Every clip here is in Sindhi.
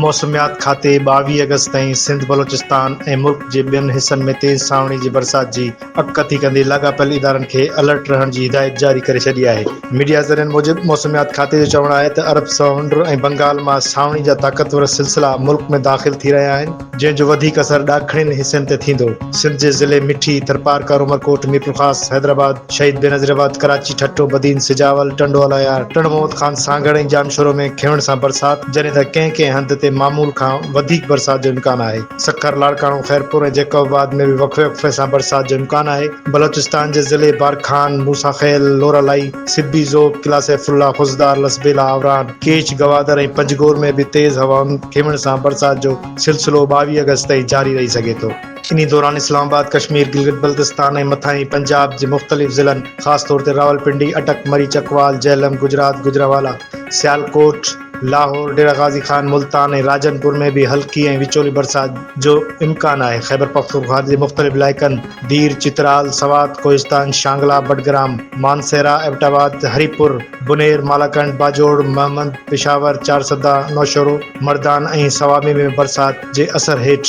موسميات کاتي ٻاويهه آگسٽ تائين سنڌ، بلوچستان ۽ ملڪ جي ٻين حصن ۾ تيز سانوڻي جي برسات جي اڳڪٿي ڪندي لاڳاپيل ادارن کي الرٽ رهڻ جي هدايت جاري ڪري ڇڏي آهي. ميڊيا ذريعن موجب موسميات کاتي جو چوڻ آهي ته عرب سمنڊ ۽ بنگال مان سانوڻي جا طاقتور سلسلا ملڪ ۾ داخل ٿي رهيا آهن، جنهن جو وڌيڪ اثر ڏاکڻين حصن تي ٿيندو. سنڌ جي ضلعي مٺي، ٿرپارڪر، عمرڪوٽ، ميرپورخاص، حيدرآباد، شهيد بينظير آباد، ڪراچي، ٺٽو، بدين، سجاول، ٽنڊو الايار، ٽنڊو محمد خان، سانگهڙ ۽ ڄامشورو ۾ کينوڻ سان برسات جڏهن ته ڪنهن ڪنهن هنڌ تي معمول کان وڌيڪ برسات جو امڪان آهي. سکر، لاڙڪاڻو، خيرپور ۽ جيڪب آباد ۾ به وقفي وقفي سان برسات جو امڪان آهي. بلوچستان جي ضلعي بارکان، موسيٰ خيل، لورالاي، سبي، ذوب، قلعه سيف الله، خضدار، لسبيلا، آوران، ڪيش، گوادر ۽ پنجگور ۾ به تيز هوائن ٿيوڻ سان برسات جو سلسلو ٻاويهه آگسٽ تائين جاري رهي سگهي ٿو. انهي دوران اسلام آباد، ڪشمير، گلگت بلتستان ۽ مٿانهين پنجاب جي مختلف ضلعن خاص طور تي راولپنڊي، اٽڪ، مري چڪوال، جهلم، گجرات، گجرانوالا، سيالڪوٽ، لاهور، ڊيره غازي خان، ملتان ۽ راجن پور ۾ به هلڪي ۽ وچولي برسات جو امڪان آهي. خيبرپختونخوا جي مختلف علائقن دير، چترال، سوات، ڪوهستان، شانگلا، بڊگرام، مانسهره، ايبٽ آباد، هري پور، بونير، مالاڪنڊ، باجوڙ، مهمند، پشاور، چارسده، نوشهرو، مردان ۽ صوابي ۾ برسات جي اثر هيٺ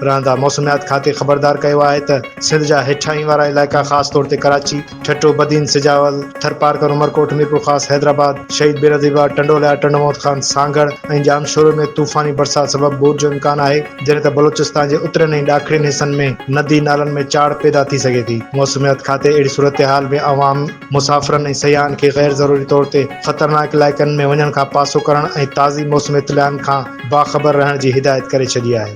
رهندا. موسميات کاتي خبردار ڪيو آهي ته سنڌ جا هيٺاهين وارا علائقا خاص طور تي ڪراچي، ٺٽو، بدين، سجاول، ٿرپارڪر، عمرڪوٽ، ميرپورخاص، حيدرآباد، شهيد بينظير باغ، ٽنڊوليا، ٽنڊو محمد خان، سانگهڙ ۽ ڄامشورو ۾ طوفاني برسات سبب ٻوڏ جو امڪان آهي، جڏهن ته بلوچستان جي اترين ۽ ڏاکڻين حصن ۾ ندي نالن ۾ چاڙهه پيدا ٿي سگهي ٿي. موسميات کاتي اهڙي صورتحال ۾ عوام. مسافرن ۽ سياحن کي غير ضروري طور تي خطرناڪ علائقن ۾ وڃڻ کان پاسو ڪرڻ ۽ تازي موسمي اطلاعن کان باخبر رهڻ جي هدايت ڪري ڇڏي آهي.